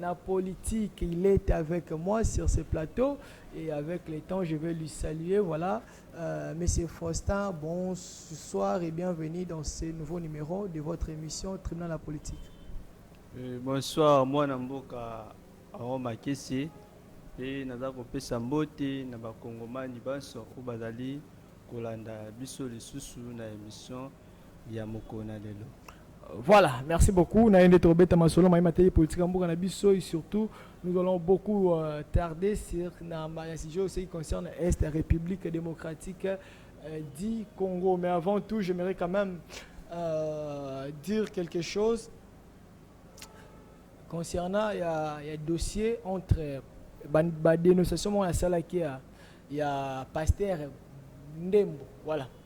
na politique il est avec moi sur ce plateau et avec le temps je vais lui saluer voilà monsieur Faustin bonsoir et bienvenue dans ce nouveau numéro de votre émission tribunal la politique Euh, bonsoir mwana mboka aron makese mpe naza kopesa mbote na bakongomani banso oyo bazali kolanda biso lisusu na emission ya mokolo na lelo. Voilà, merci beaucoup. Na yende tobeta masolo ma mateli politique ya mboka na biso et surtout nous allons beaucoup euh, tarder sur na ma sujet aussi qui concerne Est la République démocratique euh, du Congo. Mais avant tout, j'aimerais quand même euh, dire quelque chose concernant il y a, il y a dossier entre euh, ba, ba dénonciation mon salaki ya, ya pasteur Ndembo. Voilà.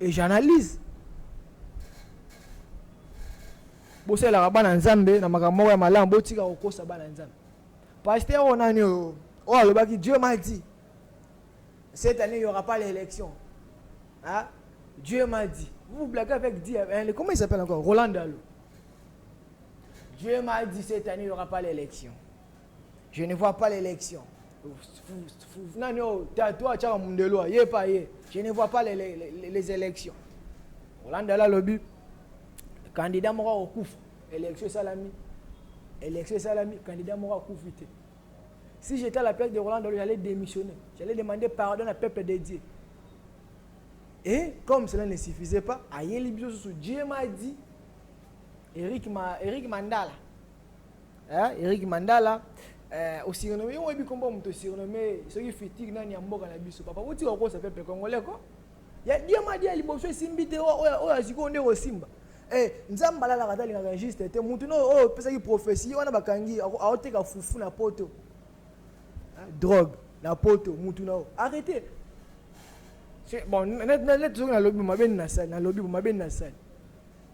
Et j'analyse. Bosalelaka bana Nzambe na makambo moko ya malamu, botika kokosa bana Nzambe. Pasteur oyo nani oyo? Oyo alobaki Dieu m'a dit. Cette année, il n'y aura pas l'élection. Hein? Dieu m'a dit. Vous vous blaguez avec Dieu. Hein? Comment il s'appelle encore Roland Dalo. Dieu m'a dit cette année, il n'y aura pas l'élection. Je ne vois pas l'élection. Nani oyo tatu atyaka mundelo aye mpe aye. Je ne vois pas les, les, les, les élections. Olandela alobi candidat moko akokufa. Élection esalami. Élection esalami, candidat moko akufi te. Si j'étais à la place de Roland Dolo, j'allais démissionner. J'allais demander pardon à peuple de Dieu. Et comme cela ne suffisait pas, Ayeli Biosusu, Dieu m'a dit, Eric, Ma, Eric Mandala, Eh, Eric Mandala, eh, au surnommé, on est combat, on surnommé, ceux qui futigue, nani, amboka, na biso, papa, où tu vas, ça peuple congolais, quoi. Ya diama dia liboso esimbi te oyo oyo aziko nde osimba. Eh, nzamba la la katali na juste te mutu no oyo pesaki prophétie wana bakangi aoteka fufu na poto. Hein, drogue na poto mutu na arrêtez. C'est bon, net net net zo na lobi mabe na sali, na lobi mabe na sali.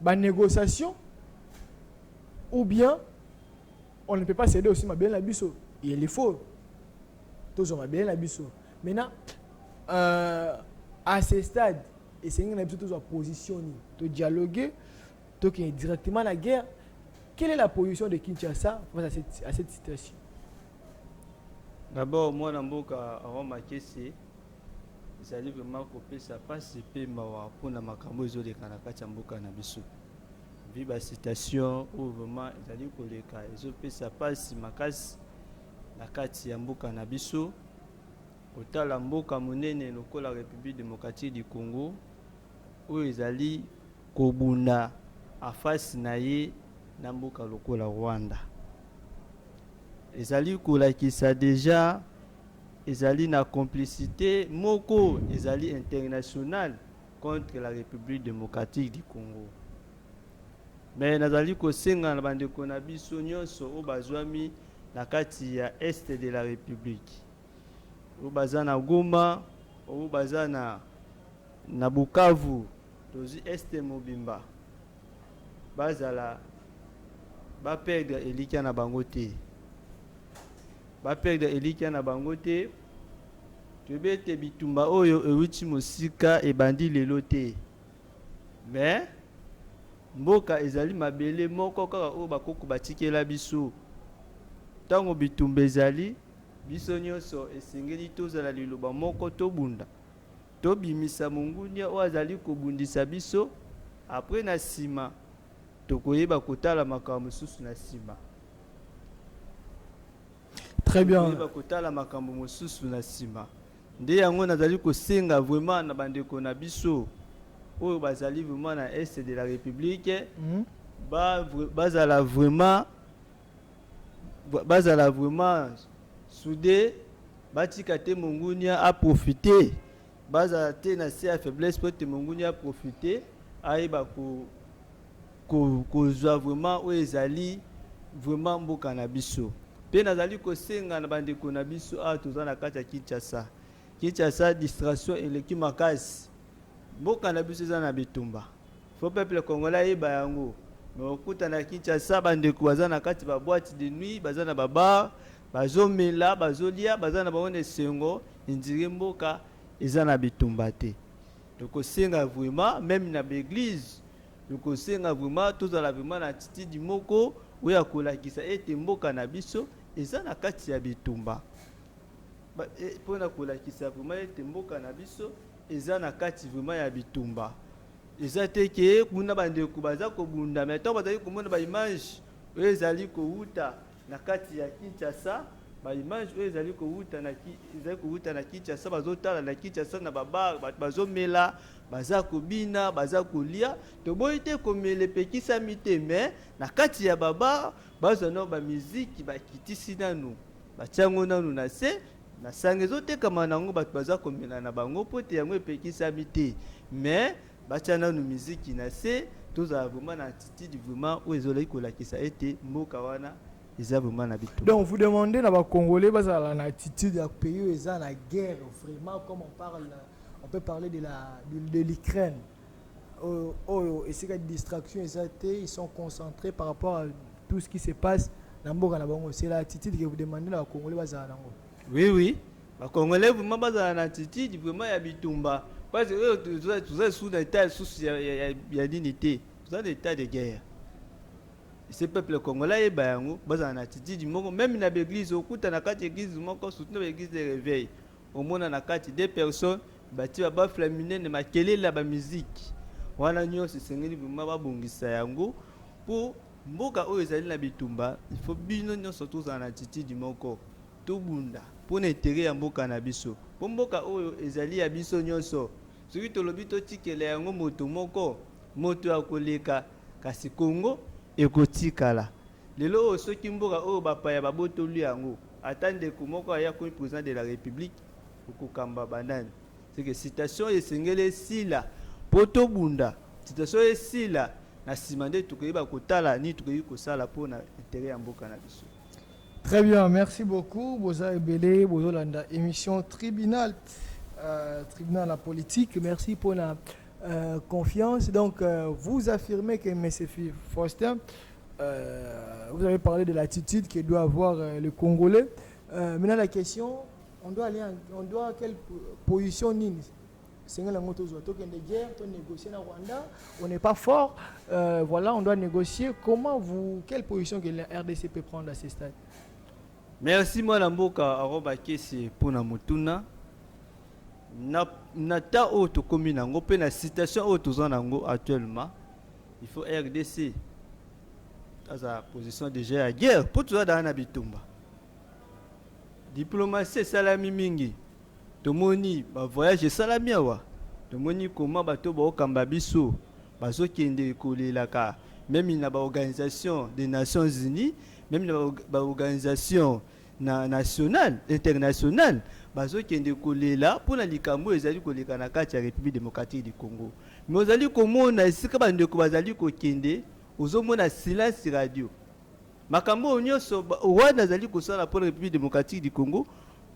ba negociations ou bien on ne peut pas ceder aussi mabele na biso il faut tozwa mabele na biso maintenant euh, à ce stade esengi na biso tozwa position nini todialogue tokende directement na guerre quelle est la position de kinshasa face à cette, à cette situation d'abord mwana mboka roma kese Ezali vraiment kopesa pasi pe mawa pona makambo oyo ezoleka na kati ya mboka na biso. Vu ba citations oyo vraiment ezali koleka ezopesa pasi makasi na kati ya mboka na biso. Kotala mboka monene lokola Republique democratique du Congo oyo ezali kobunda en face na ye na mboka lokola Rwanda. Ezali kolakisa dejà Ezali na complicite moko ezali internationale contre la Republique democratique du Congo. Mais nazali kosenga na bandeko na biso nyonso oyo bazwami na kati ya Est de la Republique, oyo baza na Goma, oyo baza na, na Bukavu, tozwi Est mobimba, bazala baperdre elikya na bango te. Ba perdre elikya na bango te. Toyebi ete bitumba oyo ewuti mosika, ebandi lelo te. Mais, mboka ezali mabele moko kaka oyo bakoko batikela biso. Tango bitumba ezali, biso nionso esengeli tozala liloba moko, tobunda. Tobimisa mongundia oyo azali kobundisa biso, après na sima, Tokoyeba kotala makambo mosusu na nsima. Très bien. Tokoyeba kotala makambo mosusu na nsima. Nde yango nazali kosenga vraiment na bandeko na biso oyo bazali vraiment na est de la République mm. ba, bazala vraiment bazala vraiment soude batika te mongunia aprofite Bazala te na se ya faiblesse mpo ete monguni a profiter, ayeba kozwa vraiment oyo ezali vraiment mboka na biso. Mpe nazali kosenga na bandeko na biso awa toza na kati ya Kinshasa. Kinshasa distraction eleki makasi. Mboka na biso eza na bitumba. Faut peuple congolais ayeba yango. Mais okuta na Kinshasa bandeko baza na kati ba boîte de nuit, baza na ba bar, bazomela, bazolia, baza na bango na esengo. Indire mboka eza na bitumba te toko senga vraiment meme na ba eglise toko senga vraiment tozala vraiment na attitude moko oyo ya kolakisa ete mboka na biso eza na kati ya bitumba mpo na kolakisa vraiment ete mboka na biso eza na kati vraiment ya bitumba eza te ke kuna bandeko baza kobunda me ntango bazali komona baimage oyo ezali kowuta Na kati ya Kinshasa, ba images oyo ezali kowuta na ezali kowuta na Kinshasa, bazotala na Kinshasa na ba bar bato bazomela, baza kobina, baza kolia. Toboyi te komela epekisami te mais na kati ya ba bar bazwa nao ba miziki bakitisi nanu batia yango nanu na se, masanga ezotekama na yango bato baza komela na bango mpo ete yango epekisami te mais Batia nanu miziki na se tozala vraiment na attitude vraiment oyo ezolaki kolakisa ete mboka wana eza vraiment na bitumba. Donc vous demandez na ba congolais bazala na attitude ya pays oyo eza na guerre vraiment comme on parle on peut parler de la de l'Ukraine oyo oyo esika distraction eza te ils sont concentrés par rapport à tout ce qui se passe na mboka na bango c'est la attitude que vous demandez na ba congolais bazala nango. Oui oui ba congolais vraiment bazala na attitude vraiment ya bitumba parce que oyo toza toza sous na état sous ya ya ya nini te toza na état de guerre ce peuple congolais ayeba yango bazala na attitude moko même na baeglise okuta na kati église moko surtout na baeglise de réveil omona na kati deux personnes batie babafle ya minene makelele ya bamiziki wana nyonso esengeli vraimen babongisa yango mpo Mboka oyo ezali na bitumba il faut bino nionso tozala na attitude moko tobunda pona intere ya mboka na biso po mboka oyo ezali ya biso nionso soki tolobi totikela yango moto moko moto ya koleka kasi congo ekotikala lelo oyo soki mboka oyo bapaya babotoli yango ata ndeko moko aye akomi president de la republique okokamba banani C'est que citation esengeli esila po tobunda citation esila na nsima nde tokoyeba kotala nini tokoki kosala mpo na interet ya mboka na biso Très bien, merci beaucoup. Boza Ebele, Bozolanda, émission tribunal, euh, tribunal en politique. Merci pour la euh, confiance. Donc, euh, vous affirmez que M. Faustin, euh, vous avez parlé de l'attitude que doit avoir euh, le Congolais. Euh, maintenant, la question, On doit aller en, on doit quelle position nini esengeli yango tozwa tokende guerre to négocier na Rwanda on n'est pas fort euh, voilà on doit négocier comment vous quelle position que la RDC peut prendre à ce stade merci mwana mboka aroba kesi mpona motuna na, na ta oyo tokomi na yango mpe na situation oyo toza na yango actuellement il faut rdc aza position déjà ya guerre mpo toza dala na bitumba Diplomatie esalami mingi, tomoni ba voyage esalami awa, tomoni comment bato oyo baokamba biso bazokende kolelaka meme na ba organisation des nations unies, meme na ba organisation na national international bazokende kolela mpo na likambo oyo ezali koleka na kati ya Republique democratique du Congo. Me ozali komona esika bandeko bazali kokende, ozomona silence radio. Makambo oyo nionso Rwanda azali kosala mpo na Republique democratique du Congo,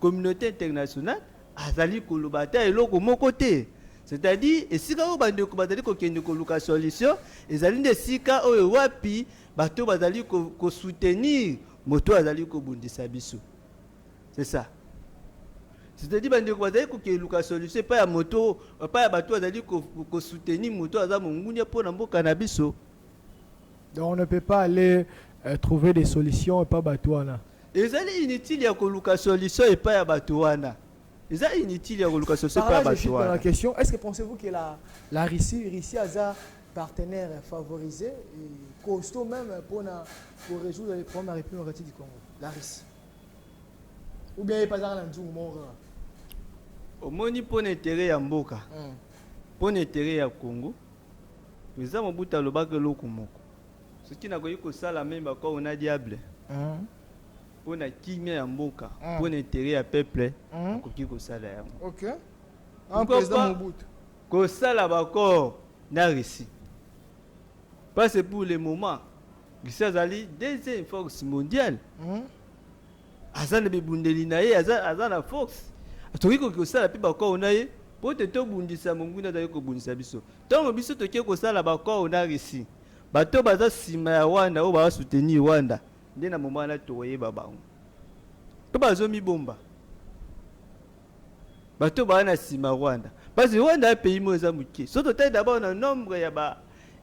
communaute internationale azali koloba ata eloko moko te. C'est-à-dire esika oyo bandeko bazali kokende koluka solution ezali nde esika oyo wapi bato bazali kosoutenir moto azali kobundisa biso. C'est ça. C'est-à-dire bandeko bazali kokeluka solution epai ya moto epai ya bato bazali kosoutenir moto aza mongunia mpo na mboka na biso. Donc on ne peut pas aller euh, trouver des solutions epa bato wana. Ezali inutile ya koluka solution epa ya bato wana. Eza inutile ya koluka solution epa ya bato wana. la question, est-ce que pensez-vous que la, la Russie, Russie aza partenaire favorisé et costaud même pour, na, pour résoudre les problèmes de la République démocratique du Congo, la Russie Ou bien epazaka na nzungu moko omoni mpo na intere ya mboka hmm. Pona etere ya Congo president mobutu alobaka eloko moko soki nakoki kosala meme bakoo na diable pona kimia ya mboka pona etere ya peuple akoki kosala yango okay. Ah, president mobutu kosala bakoo na russie parce pour le moment russie azali deuxième force mondiale mm -hmm. aza na bibundeli na ye aza, aza na force tokoki koki kosala mpe bakoo na ye mpo te tobundisa monguna azali kobundisa biso ntango biso toke kosala bakoo na russie bato baza nsima ya rwanda oyo baza soutenir rwanda nde na moma wana tokoyeba bango mpo bazomibomba bato baa na nsima rwanda parce rwanda ya pays moko eza moke so totali dabord na nombre ya ba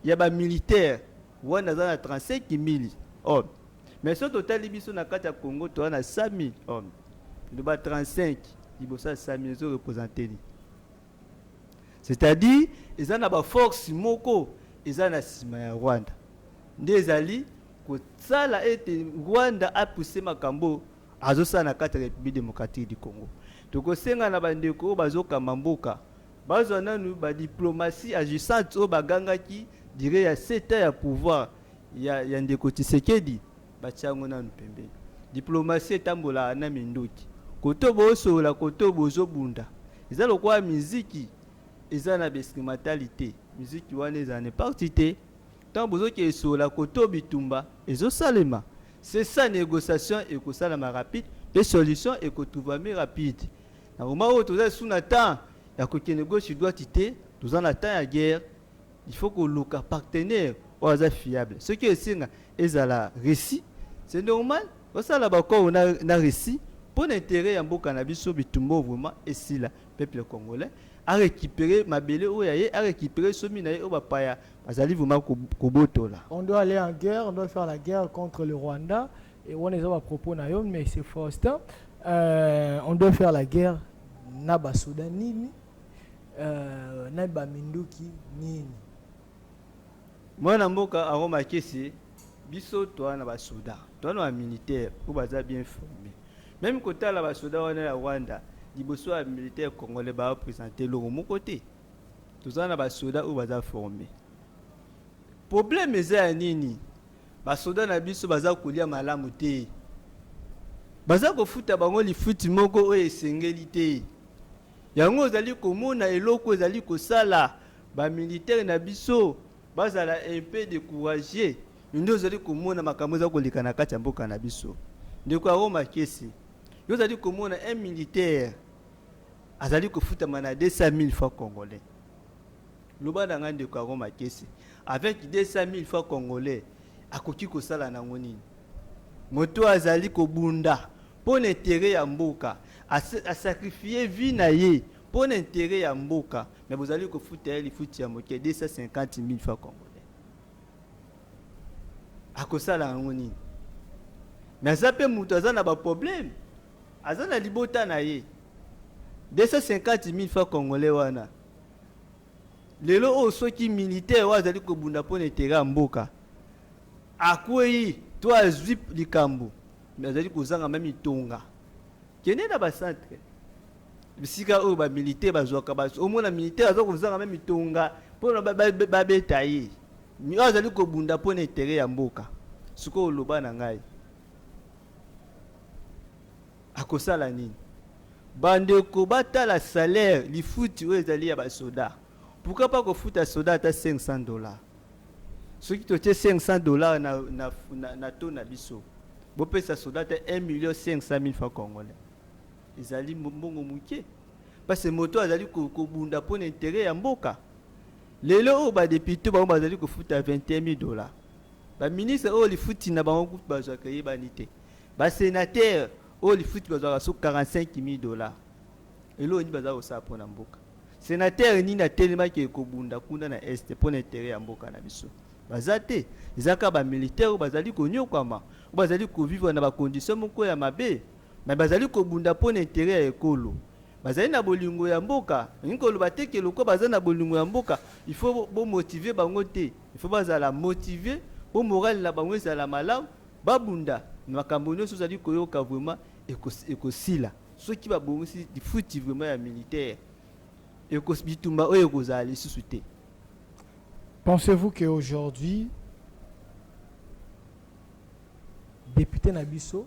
ya bamilitaire rwanda aza na 35 mili hommes Mais soki totali biso na kati ya Congo toza na 5000 hommes loba 35 liboso ya 5000 ezo represente nini c'est-à-dire eza na baforce moko eza na nsima ya rwanda nde ezali kosala ete rwanda apuse makambo azosala na kati ya république démocratique du congo tokosenga na bandeko oyo bazokamba mboka bazwa nanu badiplomatie agissante oyo bagangaki dire ya seta ya pouvoir ya, ya ndeko Tshisekedi batia yango nanu pembeni. Diplomasi etambolaka na minduki, koto bosolola, koto bozobunda, eza lokola miziki eza na bestimatali te. Miziki wana eza na parti te, ntango bozokende solola, koto bitumba ezosalema. C'est ça, négociation ekosalama rapide mpe solution ekotrouvami rapide. Na moment oyo toza lisusu na temps ya kokende gauche droite te, toza na temps ya guerre. Il faut koluka partenaire oyo aza fiable. Soki esenga ezala Russie, c'est normal basala ba accord na, na Russie mpo na interet ya mboka na biso. Bitumba oyo vraiment esila, peuple congolais a recuperer mabele oyo ya ye, a recuperer somi na ye oyo bapaya bazali vraiment ko- kobotola. On doit aller en guerre, on doit faire la guerre contre le Rwanda. Et on est à propos na yo, mais c'est Faustin. Euh, on doit faire la guerre na ba Soudan nini? Euh, na ba minduki nini? Mwana mboka Aaron Makese, biso toa na ba soda, toa na ba militaire oyo baza bien forme. Meme kotala ba soda wana ya Rwanda liboso ya militaire congolais ba presenter longo moko te. Toza na ba soda oyo baza forme. Problème eza ya nini? Ba soda na biso baza kolia malamu te. Baza kofuta bango lifuti moko oyo esengeli te. Yango ozali komona eloko ezali kosala ba militaire na biso bazala un peu de courage nde ozali komona makambo eza koleka na kati ya mboka na biso ndeko ya Roma Kesi yo ozali komona un militaire azali kofutama na 200000 francs congolais loba na ngai ndeko ya Roma Kesi avec 200000 francs congolais akoki kosala nango nini Moto oyo azali kobunda mpo na interet ya mboka, a sacrifier vie na ye mpo na interet ya mboka mais bozali kofuta ye lifuti ya moke 250000 francs congolais. Akosala yango nini? Mais aza mpe moto aza na ba problème, aza na libota na ye 250000 francs congolais wana Lelo oyo soki militaire oyo azali kobunda mpo na etere ya mboka akwei to azwi likambo me azali kozanga meme itonga kende na bacentre bisika oyo bamilitaire bazwaka baso omona militaire aza kozanga meme itonga mpo na babeta ye oyo azali kobunda mpo na etere ya mboka sikoyo oloba na ngai Akosala nini? Ba ndeko ba tala salaire, lifuti oyo ezali ya ba soda. Pourquoi pas ko futa soda ata 500 dollars? Soki to tie 500 dollars na, na, na, na taux na biso, bo pesa soda ata 1 million 500 mille francs congolais. Ezali mbongo muke. Parce que moto azali ko, ko bunda pour l'intérêt ya mboka. Lelo oyo ba députés bango bazali ko futa 21 000 dollars. Ba ministres oyo lifuti na bango bazwaka eyebani te. Ba senateur oyo lifuti bazwaka so 45000 dollars eloko nini baza kosala mpo na mboka? Senateur nini atelemaki eke kobunda kuna na est mpo na intere ya mboka na biso? Baza te, eza kaka ba militaire oyo bazali konyokwama, oyo bazali kovivre na ba condition moko ya mabe, me bazali kobunda mpo na intere ya ekolo bazali na bolingo ya mboka olingi koloba te ke loko baza na bolingo ya mboka il faut bomotive bango te il faut bazala motive mpo morale na bango ezala malamu Babunda makambo nioso ozali koyoka vraiment ekosila soki babongisi lifuti vraiment ya militaire ekos bitumba oyo ekozala lisusu te. Pensez vous que aujourd'hui depute na biso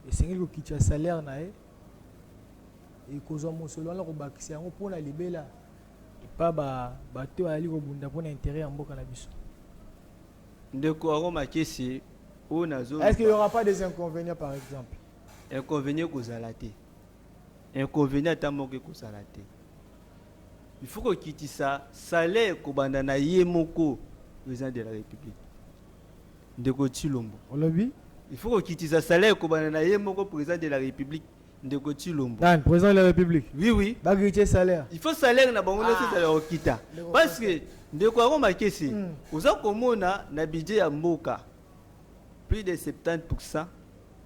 esengeli kokitisa salaire na ye ekozwa mosolo wana kobakisa yango mpo na libela epa bato oyo ayali kobunda mpo na intere ya mboka na biso Ndeko aroma kisi oyo nazo Est-ce qu'il y aura pas des inconvénients par exemple? Inconvénient ekozala te. Inconvénient ata moko ekozala te. Il faut kokitisa salaire kobanda na ye moko président de la République. Ndeko Tshilombo. Olobi? Il faut kokitisa salaire kobanda na ye moko président de la République. Ndeko Tshilombo. Nani? President de la Republique? Oui, oui. Ba gritier salaire. Il faut salaire na bango nyoso ezala okita. Parce que ndeko yango makesi mm. oza komona na budget ya mboka plus de 70%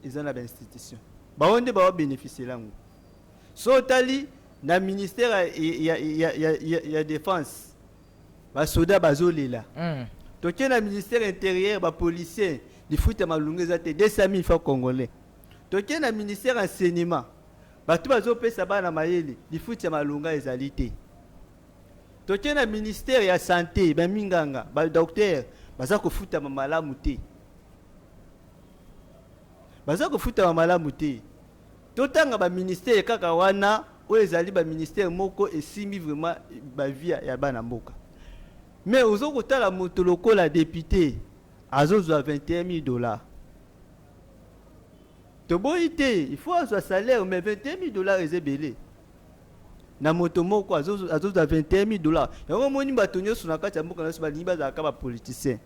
eza na ba institution. Bango nde ba bénéficier yango. So otali na ministère ya ya ya ya, ya, ya défense ba soda bazolela. Mm. Toke na ministère intérieur ba policiers lifuta malunga eza te 200 000 francs congolais. Toke na ministère ya enseignement, batu bazo pesa bana mayele, lifuti ya malonga ezali te. Toke na ministère ya sante, ba minganga, ba docteur baza kofutama malamu te. Baza kofutama malamu te. Totanga ba ministère kaka wana oyo ezali ba ministère moko esimbi vraiment ba vie ya bana mboka. Mais ozo kotala moto lokola depute azozwa 21 000 dollars. Toboyi te il faut azwa salaire mais 21000 dollars eza ebele na moto moko azozwa 21000 dollars yango omoni bato nyonso na kati ya mboka na biso balingi bazalaka bapoliticien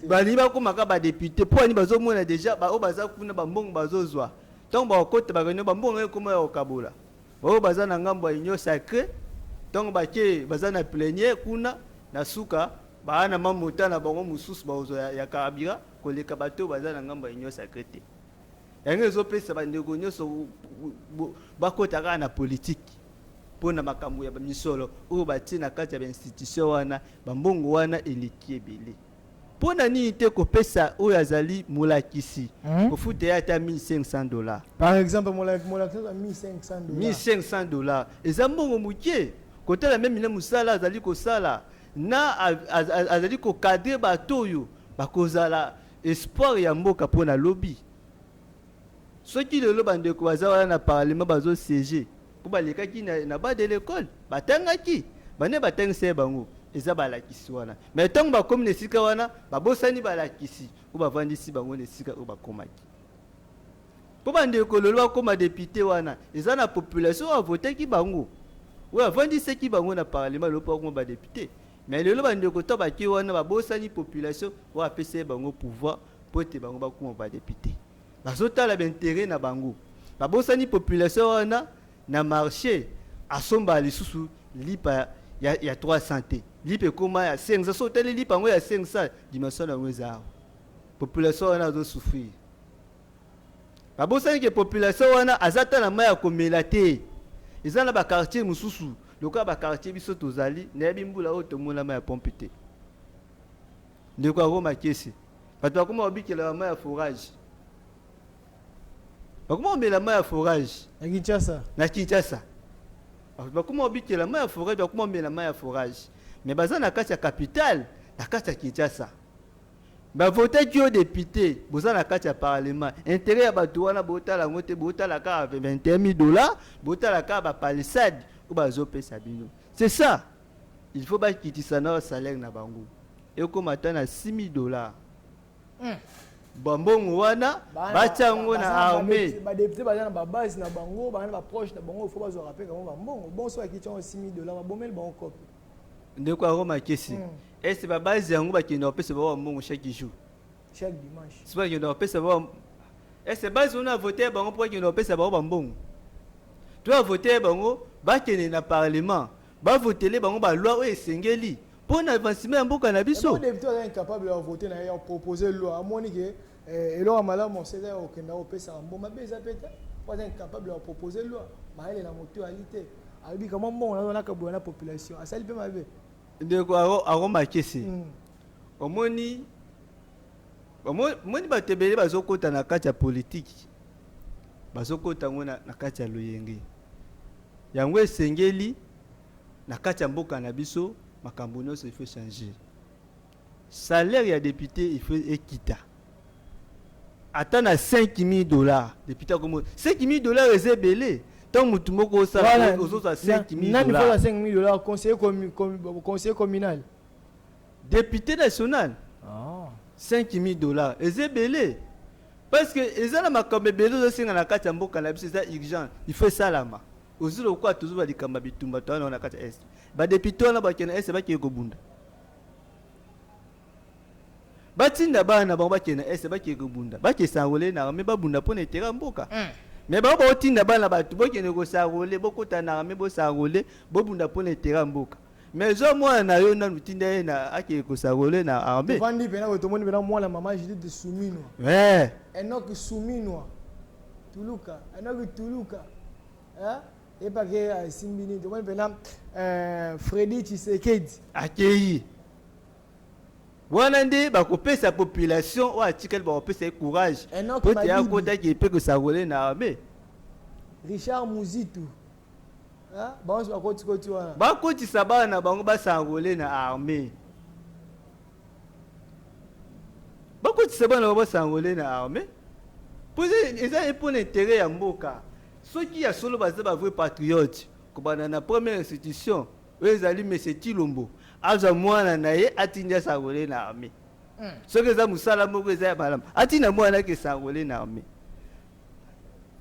balingi bakomaka badepute mpo ani bazomona deja baoyo baza kuna bambongo bazozwa ntango bakokota bareunion bambongo yango ekoma ya kokabola baoyo baza na ngambo ya union sacré ntango bake baza na plenier kuna na suka baa na mamota na bango mosusu bakozwa ya, ya karabira koleka bato oyo baza na ngambo ya union sacree te. Yango ezopesa bandeko nyonso bakota kaka na politiki mpo na makambo ya misolo oyo batie na kati ya bainstitution wana, bambongo wana eleki ebele. Mpo na nini te kopesa oyo azali molakisi hmm? kofuta ye ata 1500 dollars? Par exemple, molakisi 1500 dollars. 1500 dollars eza mbongo moke kotala meme na mosala azali kosala na azali kokadre bato oyo Bakozala espoir ya mboka pona lobi. Soki lelo ba ndeko baza wana na parlement bazo sieger po balekaki na ba de l'ecole, batangaki, ba nani batangisa ye bango? Eza balakisi wana. Mais tango bakomi na esika wana, babosani balakisi oyo bavandisi bango na esika oyo bakomaki. Po ba ndeko lelo bakoma depute wana, eza na population oyo avotaki bango, oyo avandisaki bango na parlement lelo po bakoma ba depute. Mais lelo ba ndeko to bake wana ba bosani population oyo apesai bango pouvoir po ete bango ba kuma ba depute. Bazo tala ba interet na bango. Ba bosani population wana na marche asomba lisusu lipa ya, ya 300 te. Lipa ekoma ya 500. So otali lipa yango ya 500, dimension na yango eza awa. Population wana azo souffrir. Ba bosani ke population wana aza ata na mai ya komela te. Eza na ba quartier mosusu. Lokola ba quartier biso tozali nayebi mbula oyo tomona mai ya pompe te ndeko ya roma kese bato bakoma kobikela bamai ya forage bakoma komela mai ya forage na kinshasa na kinshasa bato bakoma kobikela mai ya forage bakoma komela mai ya forage me baza na kati ya capitale na kati ya kinshasa Ba votaki yo depute, boza na kati ya parlement, interet ya batu wana botala yango te, botala kaka 21000 dollars, botala kaka ba palissade oyo bazo pesa bino, c'est ça, il faut ba kitisa na ba salaire na bango ekoma ata na 6000 dollars. Hum. bambongo wana batya yango na armée badepute baza na babase na bango baa na baproche na bango fo bazwaka mpe kango bambongo bonso bakiti yango 6000 dollars babomeli bango kope Ndeko ya Roma Kesi, mm. est ba base yango bakenda kopesa bawa mbongo chaque jour? Chaque dimanche. Sio bakenda kopesa bawa est base wana vote bango mpo bakenda kopesa bango bambongo? To ya vote bango bakende na parlement bavotele bango baloi oyo esengeli mpo na avancement ya mboka na biso. Depute aza incapable ya vote na ye ya proposer loi amoni ke Eh, eloko ya malamu mosele ya kokenda kopesaka mbongo mabe eza mpe te mpo aza incapable ya kopropose loi mayele na motu ali te alobi kamwa mbongo nazo nakabola na population asali mpe mabe ndeko akomakisi mm. omoni omoni bato ebele bazokota na kati ya politiki bazokota yango na, na kati ya loyenge yango esengeli na kati ya mboka na biso makambo nyonso ifo changer Salaire ya depute il faut ekita ata na 5000 dollars depute akomo 5000 dollars eza ebele ntango motu moko osala ozozwa 5000 nani kozwa 5000 dollars conseiller commu, com, conseiller communal depute national oh. 5000 dollars eza ebele parce que eza na makambo ebele ozosenga na kati ya mboka na biso eza urgent il faut esalama ozwi lokola tozoba likambo ya bitumba towana na kati ya est badepute wana bakende est bakeye kobunda batinda bana na bango bakende na est bakende kobunda bake sanrole na arme babunda mpo na etere ya mboka mm. me bango baotinda bana bato bokende kosarole bokota na arme bosarole bobunda mpo na etere ya mboka me zwa mwana na yo nanu tinda ye na akende kosarole na arme ovandi mpena boye tomoni mpena mwana mama judite suminwa eh. enoki suminwa tuluka enoki tuluka eh? Epa ke ah, esimbi nini tomoni mpena eh, Freddy Tshisekedi akeyi wana nde bakopesa population oyo atikali bakopesa ye courage Enoch po te Madidi. akotaki epe kosakole na arme Richard Muzitu Hein? banso bakotikoti wana bakotisa bana na bango basakole na arme bakotisa bana ba basangole na armée mpo eza mpo na intere ya mboka soki ya solo baza ba vrai patriote kobanda na première institution oyo ezali monsieur tilombo azwa mwana na ye atindi asangole na armée hmm. soki eza mosala moko eza ya malamu atinda mwana ake esangole na armée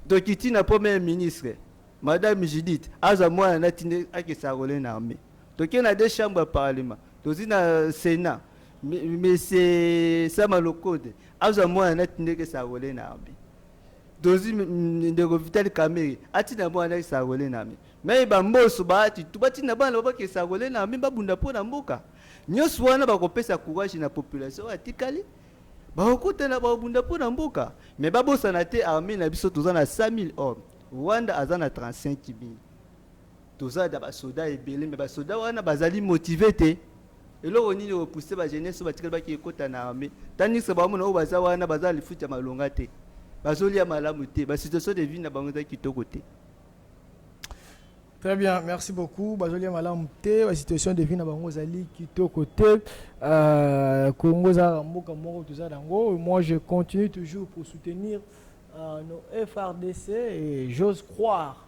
dokiti na première ministre madame judith azwa mwana na atindi ake esangole na armée Toke na deux chambres ya parlement tozi na senat monsieur sama lokode azwa mwana na tindeke sarole na arme tozi ndeko vital kamere atina mwana na sarole na arme mai bamboso baati tu batina bana babake sarole na arme babunda mpo na mboka nyonso wana bakopesa courage na population oyo atikali bakokutana bakobunda mpo na mboka me babosana te arme na biso toza na 100 000 hommes rwanda aza na 35 000 Toza na ba soda ebele mais ba soda wana bazali motive te eloko nini eko pousser ba jeunesse batikali baki ekota na armee tandis que baomona oyo baza wana baza na lifuti ya malonga te bazolia malamu te ba situation de vie na bango eza kitoko te Très bien, merci beaucoup. Bazolia malamu te, la situation de vie na bango zali kitoko te. Euh, Congo za mboka moko toza nango. Moi je continue toujours pour soutenir euh, nos FRDC et j'ose croire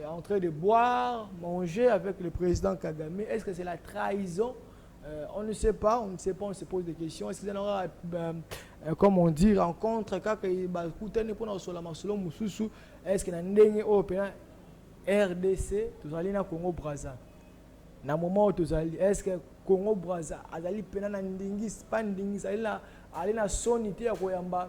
Et en train de boire, manger avec le président Kagame, est-ce que c'est la trahison euh, On ne sait pas, on ne sait pas, on se pose des questions. Est-ce que c'est aura, euh, euh, comme on dit, rencontre, kaka bakutani pour na sola masolo mususu, est-ce que na ndenge oyo pena RDC, tozali na Congo Brazza. Na moment où tozali, est-ce que Congo Brazza azali pena na ndingis, pas ndingis, azali na ali na soni te ya koyamba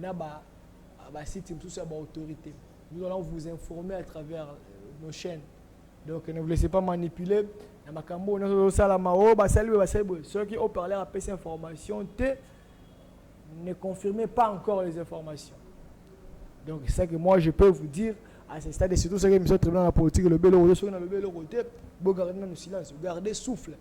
na ba ba sites mosusu ya ba autorités nous allons vous informer à travers euh, nos chaînes donc ne vous laissez pas manipuler na makambo oyo nyonso ezosalama o oh, basali boye basali boye soki o parler apesi information te ne confirmez pas encore les informations donc c'est ça que moi je peux vous dire à ce stade et surtout soki émission tribunal na politique elobeli oyo soki na lobeli eloko te bogarde nanu silence garde souffle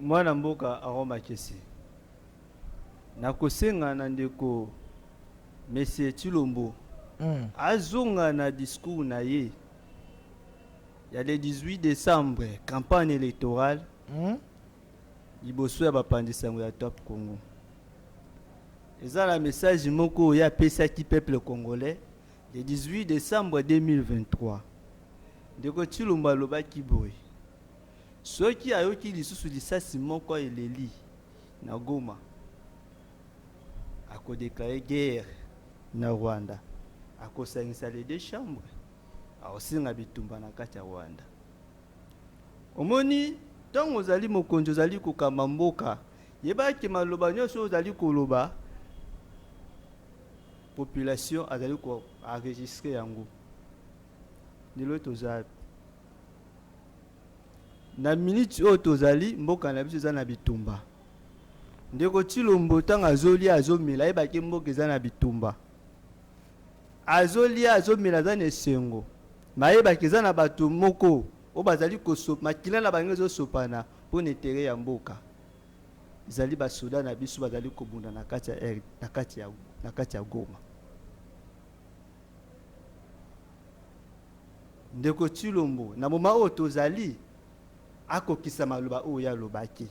Mwana mboka Aaron Makese, nakosenga na ndeko Monsieur Tshilombo azonga na discours na ye ya le 18 decembre, campagne electorale, liboso ya bapanzi sango ya Top Congo. Eza na message moko ye apesaki peuple congolais le 18 decembre 2023. Ndeko Tshilombo alobaki boye, Soki ayoki lisusu lisasi moko eleli na Goma, ako declarer guerre na Rwanda, akosangisa les deux chambres, akosenga bitumba na kati ya Rwanda. Omoni, tango ozali mokonzi, ozali kokamba mboka, yeba ke maloba nionso oyo ozali koloba, population azali ko enregistrer yango. Lelo toza wapi? Na minute oyo tozali mboka na biso eza na bitumba. Ndeko Tshilombo ntango azolia azomela ayebaki mboka eza na bitumba. Azolia azomela aza na esengo me ayebaki eza na bato moko oyo bazali kosopa makila na bango ezosopana mpo na etere ya mboka. Ezali basoda na biso bazali kobunda na kati ya, na kati ya, na kati ya Goma. Ndeko Tshilombo, na moment oyo tozali, akokisa maloba oyo ye alobaki.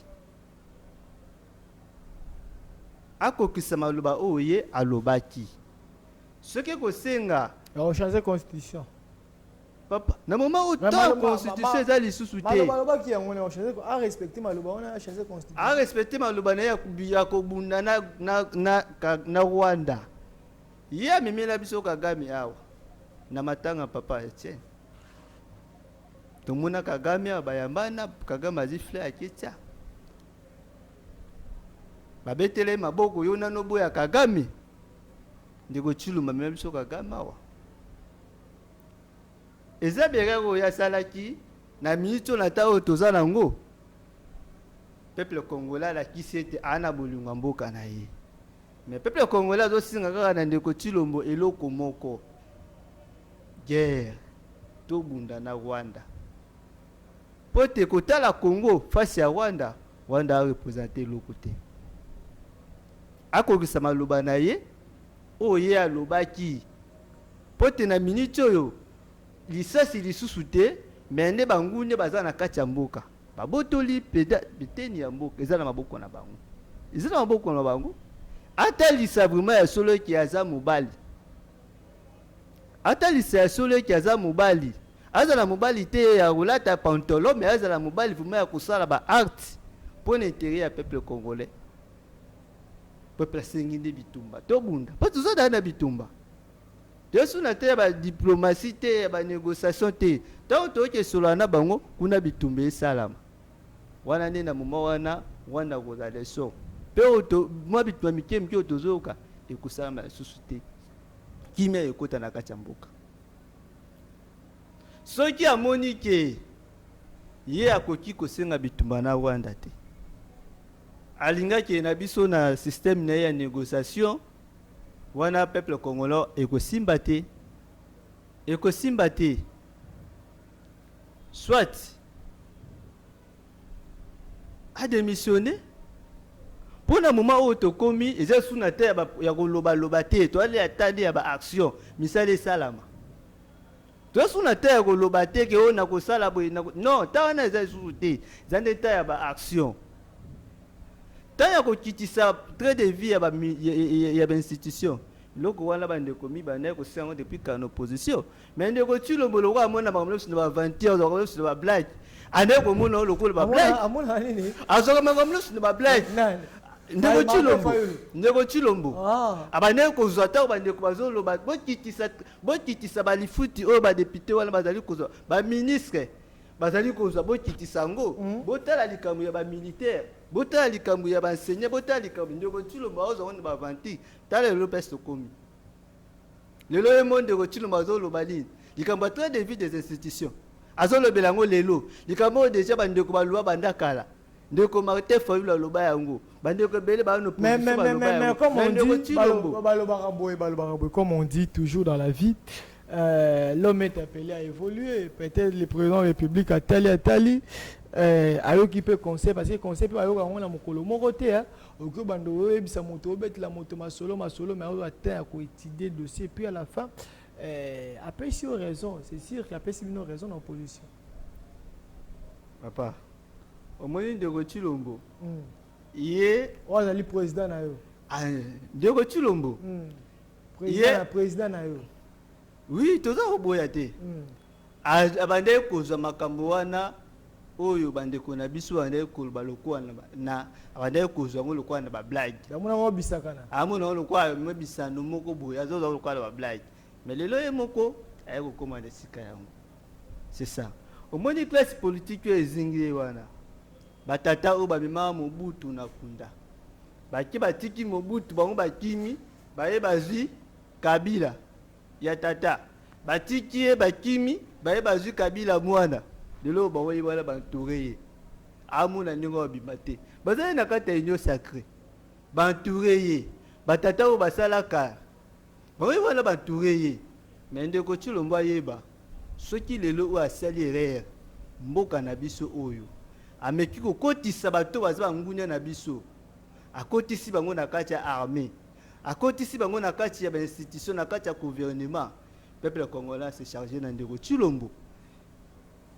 Akokisa maloba oyo ye alobaki. Soki ekosenga. Ya ko changer constitution. Papa, na moment oyo temps constitution eza lisusu te. Maloba alobaki yango na ko changer ko a respecter maloba wana ya changer constitution. A respecter maloba na ya ya kobunda na na na na Rwanda. Ye amemela biso Kagame awa na matanga papa Etienne. Tomona Kagame awa bayambana, Kagame azi fleur ya Ketia. Babetele maboko yo nano boya Kagame. Ndeko Tshilumba amemela biso Kagame awa. Eza berere oyo asalaki na miniti oyo na ntango oyo toza nango. Peuple congolais alakisi ete ana bolingo ya mboka na ye. Mais peuple congolais azo singa kaka na ndeko Tshilombo eloko moko guerre to bunda na Rwanda po te kotala Congo face ya Rwanda Rwanda a representer eloko te akokisa maloba na ye oyo ye alobaki po te na minute oyo lisasi lisusu te mais nde bangune baza na kati ya mboka Babotoli peda biteni ya mboka eza na maboko na bango eza na maboko na bango atalisa vraiment ya solo eke aza mobali atalisa ya solo eke aza mobali azala mobali te ya kolata pantolo me azala mobali vrema ya kosala ba art mpo na intere ya peuple congolais peuple asengi nde bitumba tobunda mpo tozodana na bitumba Yesu na te ya ba diplomatie te ya ba negociation te tango toye kesolola na bango kuna bitumba esalama wana nde na moma wana Rwanda akozala leson pe oto mwa bitumba mike mike oyo tozoyoka ekosalama lisusu te kimia ekota na kati ya mboka soki amoni ke ye akoki kosenga bitumba na Rwanda te alingaki na biso na système na ye ya négociation Wana peuple congolais ekosimba te ekosimba te soit a démissionner mpo na moment oyo tokomi eza lisusu na te ya kolobaloba te toalia tali ya baaction misala esalama Toza susu na temps ya koloba te ke oyo nakosala boye nako... non, temps wana eza lisusu te, eza nde temps ya ba action, temps ya kokitisa trait de vie ya ba, ya ba institution eloko wana bandeko mibanda ekosenga yango depuis kala na opposition mais ndeko Tshilombo lokola amona makambo nyonso na ba aventure makambo nyonso na ba blague anaye komona yango lokola ba blague amona nini azwaka makambo nyonso na ba blague ndeko Tshilombo ndeko Tshilombo ah. abandaki kozwa ntango bandeko bazoloba bokitisa Bokitisa ba lifuti oyo ba deputes wana bazali kozwa, ba ministres bazali kozwa, bokitisa yango. Botala likambo ya ba militaires, botala likambo ya ba enseignants, botala likambo, ndeko Tshilombo azo zonga na ba aventures, tala lelo place tokomi. Lelo ye moko ndeko Tshilombo azo loba nini? Likambo ya train de vie des institutions, azo lobela yango lelo. Likambo oyo dejà ba ndeko ba lua banda kala. ndeko martin fayulu aloba yango bandeko ebele baa na opposition baloba yango na ndeko tshilombo balobaka boye balobaka boye comme on dit toujours dans la vie euh, l'homme est appelé à évoluer peut-être le président de la république atali atali euh, ayoki mpe conseil parce que conseil mpe bayoka yango na mokolo moko te hein. okoki obanda oyebisa moto obetela moto masolo masolo mais oyo ata ya koétudie dossier puis à la fin euh, apesi yo raison c'est sûr qu'apesi bino raison na opposition papa Omoni ndeko Tshilombo ye oyo azali president na yo ndeko Tshilombo president na yo oui toza koboya te abandaki kozwa makambo wana oyo bandeko na biso bandaki koloba lokola na abandaki kozwa yango lokola na bablage amona lokola mabisano moko boye azozwa lokola na bablage me lelo ye moko aye kokoma na esika yango C'est ça. Omoni place politique oyo ezingi ye wana. Ba tata oyo bamema Mobutu na kunda. Bake batiki Mobutu bango bakimi baye bazwi Kabila ya tata. Batiki ye bakimi baye bazwi Kabila mwana. Lelo oyo bango ye wana ba entoure ye. Amona ndenge oyo abima te. Baza ye na kati ya union sacree. Ba entoure ye. Ba tata oyo basalaka Oui wana ba toure ye mais ndeko tshilombo ayeba soki lelo oyo asali erreur mboka na biso oyo ameki kokotisa bato baza ba ngunia na biso akotisi bango na kati ya armee akotisi bango na kati ya ba institution na kati ya gouvernement peuple congolais se charge na ndeko tshilombo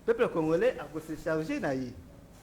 peuple congolais ako se charge na ye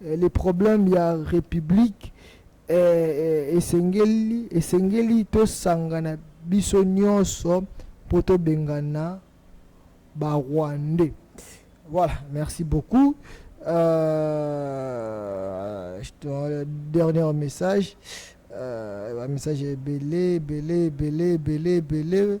Les problèmes ya republique eh, esengeli esengeli tosangana biso nyonso mpo tobengana ba rwandais voilà merci beaucoup euh, dernier message euh, message ebele ebele ebele ebele ebele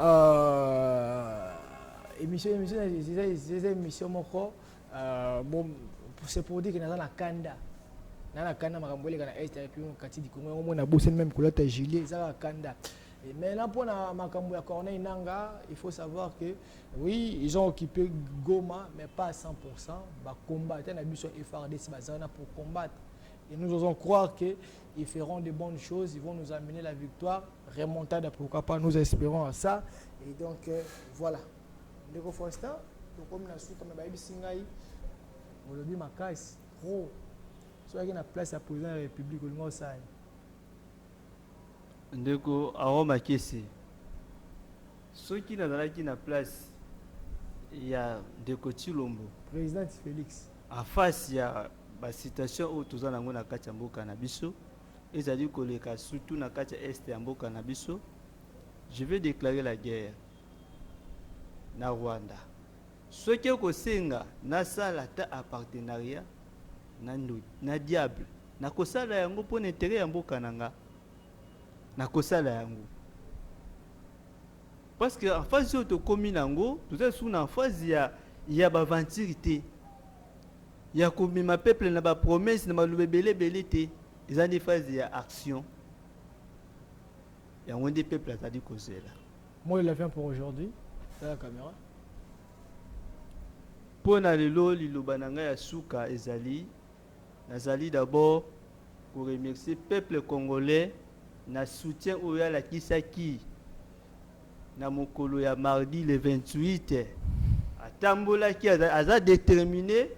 Euh, émission émission eza émission moko euh, bon c'est pour dire que naza na kanda na na kanda makambo eleka na est epi kati likongo yango mona bosani meme kolata juillet eza kaka kanda mais là mpo na makambo ya corneille nanga il faut savoir que oui ils ont occupé goma mais pas à 100 pourcent bacombatta na biso frdc baza wana pour combattre et nous osons croire que ils feront de bonnes choses, ils vont nous amener la victoire. Remontada, pourquoi pas, nous espérons à ça. Et donc, euh, voilà. Ndeko Faustin, tokomi na suka me bayebisi ngai olobi makasi pro soki na place ya président ya république olingi osala ndeko awa makesi soki nazalaki na place ya ndeko tshilombo président félix En face ya ba situation oyo toza nango na kati ya mboka na biso, ezali koleka surtout na kati ya Est ya mboka na biso, je vais declarer la guerre na Rwanda. Soki ekosenga nasala ata a partenariat na ndoyi, na diable, nakosala yango mpo na interet ya mboka na nga, nakosala yango. Parce que emphase oyo tokomi na yango toza lisusu na emphase ya ya ba aventure te ya komema peuple na ba promesse na maloba ebele ebele te eza nde phase ya action yango nde peuple azali kozela moi la fin pour aujourd'hui la caméra mpo na lelo liloba na ngai ya suka ezali Nazali d'abord ko remercier peuple congolais na soutien oyo alakisaki na mokolo ya mardi le 28. Atambolaki, aza determine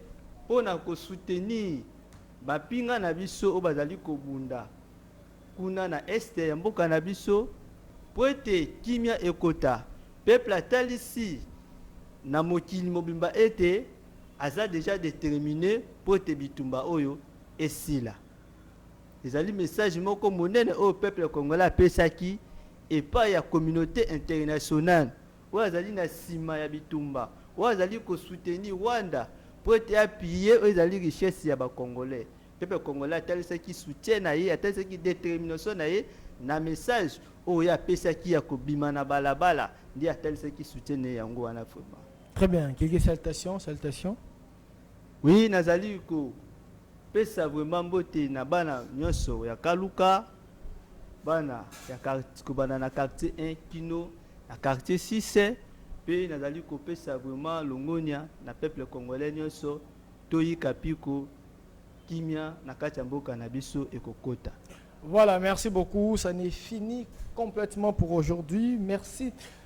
mpo na ko soutenir bampinga na biso oyo bazali kobunda kuna na Est ya mboka na biso mpo ete kimia ekota. Peuple atalisi na mokili mobimba ete Aza dejà determine mpo ete bitumba oyo esila. Ezali message moko monene oyo peuple congolais apesaki epai ya communaute internationale oyo azali na sima ya bitumba, oyo azali ko soutenir Rwanda mpo ete a piller oyo ezali richesse ya ba congolais. Peuple congolais atalisaki soutien na ye, atalisaki determination na ye na message oyo ye apesaki ya kobima na balabala, nde atalisaki soutien na ye yango wana vraiment. Très bien, Guégué, salutations, salutations. Oui, nazali ko pesa vraiment mbote na bana nyonso ya Kaluka, bana ya quartier kobanda na quartier 1 kino na quartier 6 mpe nazali kopesa vraiment longonya na peuple congolais nyonso toyika mpiko kimia na kati ya mboka na biso ekokota. Voilà, merci beaucoup. Ça n'est fini complètement pour aujourd'hui. Merci.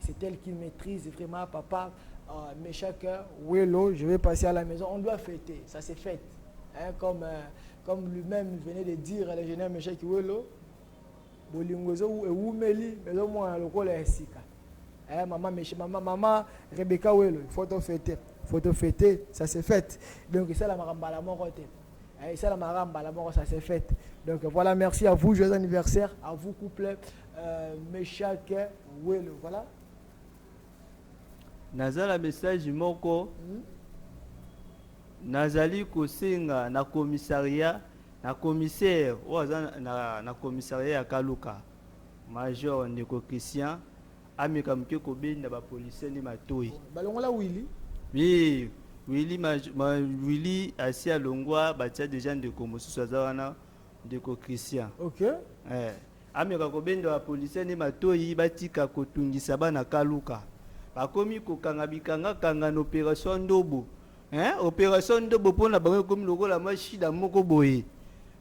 c'est elle qui maîtrise vraiment papa euh, Meshak euh, Welo je vais passer à la maison on doit fêter ça c'est fête hein, comme euh, comme lui-même venait de dire à l'ingénieur Meshak Welo bolingo ezo ewumeli mais ezo mwana lokola ya sika eh, maman Meshak maman maman Rebecca Welo il faut to fêter faut to fêter ça c'est fête donc ça la makambo mbala moko te Eh, esalamaka mbala moko ça c'est fait donc voilà merci à vous joyeux anniversaire à vous couple euh, meshak welo voilà naza na message moko hmm? nazali kosenga na commissariat na commissaire oyo aza na, na commissariat ya kaluka major ndeko christian Ameka muke kobenda ba policiers nde matoyi. Balongola Willy? Oui, Willy ma, ma Willy asi alongwa batia deja ndeko mosusu aza wana ndeko Christian. OK. Eh, ameka kobenda ba policiers nde matoyi batika kotungisa bana kaluka. Bakomi kokanga bikanga kanga na operation ndobo. Hein? Operation ndobo pona bango ekomi lokola mwa shida moko boye.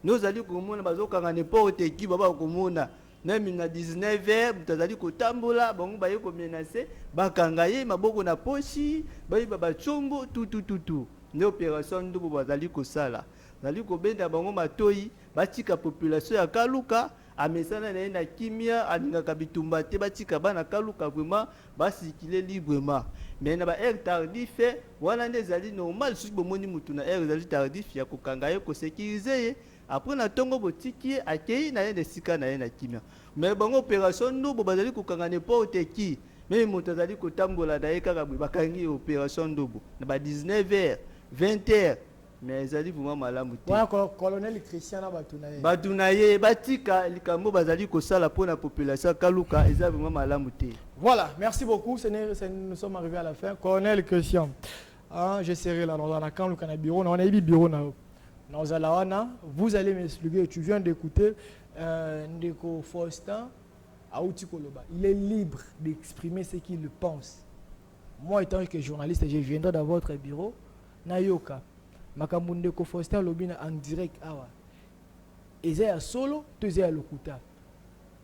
Nozali komona bazokanga n'importe qui baba komona. Meme na 19 heures moto azali kotambola, bango baye komenase, bakanga ye maboko na poshi, bayiba bacongo tutututu. Nde operation ya ndobo bazali kosala, bazali kobenda bango matoyi batika population ya Kaluka amesana na ye na kimia, alingaka bitumba te, batika bana Kaluka vraiment ba circuler librement. Mais na ba heure tardif wana nde ezali normal, soki bomoni moto na heure ezali tardif ya kokanga ye, ko securiser ye. Après na tongo botiki ye akeyi naye na esika naye na kimia mais bango operation ndobo bazali kokanga n'importe qui meme moto azali kotambola naye kaka boye bakangi ye operation ndobo na ba 19 heures 20 heures mais ezali vraiment malamu te. Wana colonel Christian na batu naye. Batu naye batika likambo bazali kosala pona population ya kaluka eza vraiment malamu te. Voilà merci beaucoup ce n'est nous sommes arrive à la fin colonel Christian Ah, je serai là, dans la camp, le bureau, on a eu bureau na Naozala wana, vous allez m'expliquer, tu viens d'écouter euh, Ndeko Faustin Aouti Koloba. Il est libre d'exprimer ce qu'il pense. Moi, étant que journaliste, je viendrai dans votre bureau, Nayoka, makambo Ndeko Faustin Lobina en direct awa. Eza ya solo, to eza ya lokuta.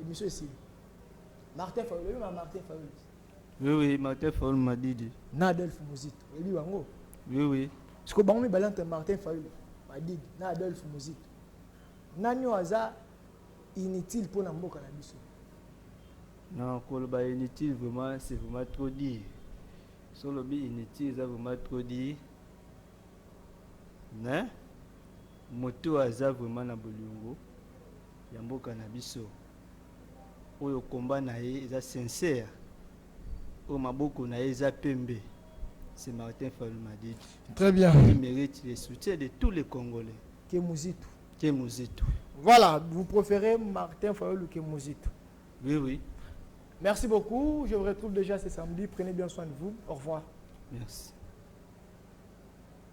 Emission esili. Martin Fayulu, oyebi ma Martin Fayulu? Oui oui, Martin Fayulu Madidi. Na Adolphe Muzito, oyebi bango? Oui oui. Siko bango mibale entre Martin Fayulu Madidi na Adolphe Muzito. Nani oyo aza inutile mpo na mboka na biso? Non, koloba inutile vraiment, c'est vraiment trop dire. So lobi inutile eza vraiment trop dire. Mais moto aza vraiment na bolingo. ya mboka na biso oyo combat na ye eza sincère oyo maboko na ye eza pembe c'est Martin Fayulu Madidi très bien il mérite le soutien de tous les Congolais que Muzitu que Muzitu voilà vous préférez Martin Fayulu que Muzitu oui oui merci beaucoup je vous retrouve déjà ce samedi prenez bien soin de vous au revoir merci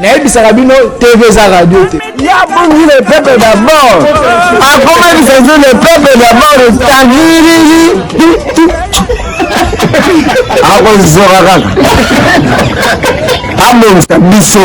nayebisaka bino tv eza radio te yabongi le peuple d'abord akomaki sanzo le peuple d'abord tagiriri akozoka kaka abongisa biso